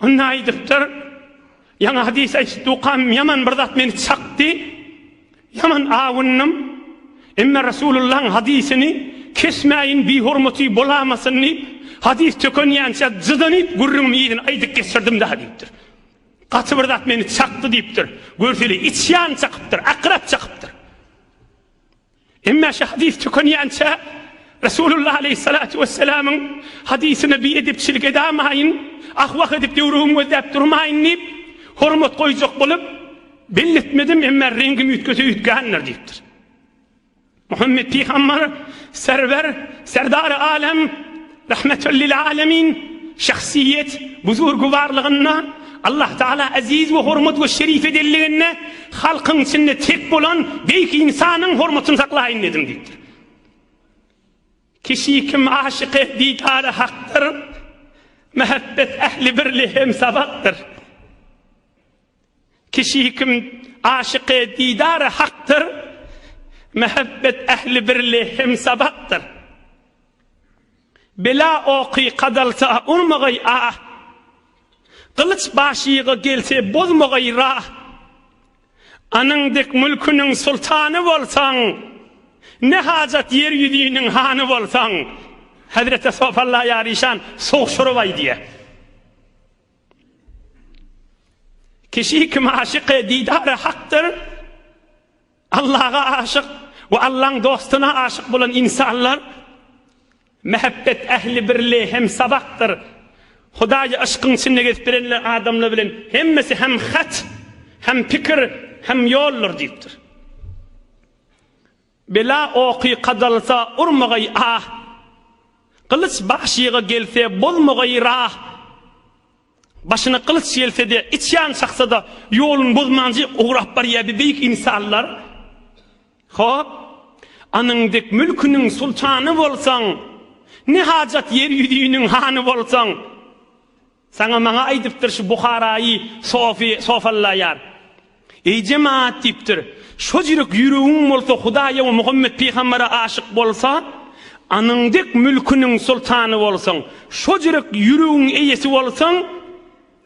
Onda aýdypdyr, Ýaňy hadys aýtdukam ýaman bir zat meni çakdy, ýaman awundym. Emma Resulullahyň hadysyny kesmäýin bihormaty bolamasyn diýip, hadys tökenýänçä jydanyp gürrüňiň yzyny aýdyp geçirdim-dä diýipdir. Gaty bir zat meni çakdy diýipdir. Görseli içýan çakypdyr, akrap çakypdyr. Emma şu hadys tükenýänçä Resulullah aleýhissalatu wessalamyň hadysyna biedepçilik edamaýyn, ah-wah edip döwrügimi gözläp durmaýyn diýip, hormat goýjak bolup, belli etmedim, emma reňgim üýtgese üýtgändir diýipdir. Muhammet pygambar, Serwer, Serdary alem, Rahmetül lil alemin şahsyýet buzurgywarlygynda Allah taala eziz we hormat we şerif edenliginde halkyň içinde tek bolan beýik ynsanyň hormatyny saklaýyn dedim diýipdir. Kişi kim aşyky didary hakdyr, Mehebbet ähli birli hem sabakdyr. Kişi kim aşyk-y didar-y hakdyr, Mehebbet ähli birli hemsabakdyr. Bela oky kadalsa urmagaý ah, Gylyç başyga gelse bozmagaý rah. Anyň dek mülküniň sultany bolsaň, Ne hajat ýer ýüzüniň hany bolsaň. Hezreti Sofalla Ýaryşan sogşuryp aýdýar. Kişi kim aşyk-y didar-y hakdyr, Allaga aşyk we Allaň dostuna aşyk bolan ynsanlar, Mähebbet ähli birli hem sabakdyr. Hudaýy yşkyň içinde gezip bilenler adamlar bilen hemmesi hem hat, hem pikir, hem ýoldur diýipdir. Bela oky gadalsa urmagaý ah, Gylyç bagşyga gelse bozmagaý rah. Başyna gylyç gelse-de, içýan çaksa-da, Ýoluny bozmanjy ugrap barýa bi beýik ynsanlar. Hop, anyň dek mülküniň sultany bolsaň, Ne hajat ýer ýüzüniň hany bolsaň. Saňa maňa aýdypdyr şu Buharaýy sofy sofallaýar. Eý jemaat diýipdir. Şo jürek ýüregiň bolsa Hudaýa we Muhammet pygambere aşyk bolsa, anyň dek mülküniň soltany bolsaň, şo jürek ýüregiň eýesi bolsaň,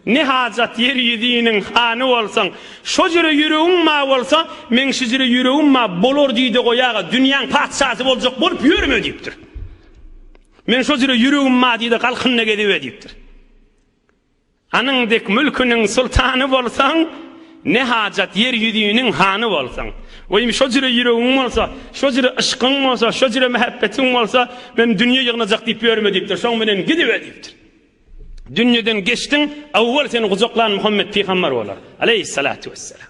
ne hajat ýer ýüziniň hany bolsaň, şo jüre ýüregiň ma bolsa, meň şu jüre ýüregim ma bolar diýde goýaga, dünýäň patyşasy boljak bolup ýörme diýipdir. Men şo jüre ýüregim madyda galkynda gezibe diýipdir. Anyň dek mülküniň sultany bolsaň, ne hajat ýer ýüzüniň hany bolsaň. Weý, şo jüre ýüregiň bolsa, şo jüre yşkyň bolsa, şo jüre mähebbetiň bolsa, men dünýe ýygnajak diýip ýörme diýipdir. Şoň bilen gidibe diýipdir. Dünýeden geçdiň, awwal seni gujaklan Muhammet pygamber bolar, aleýhissalatu wesselam.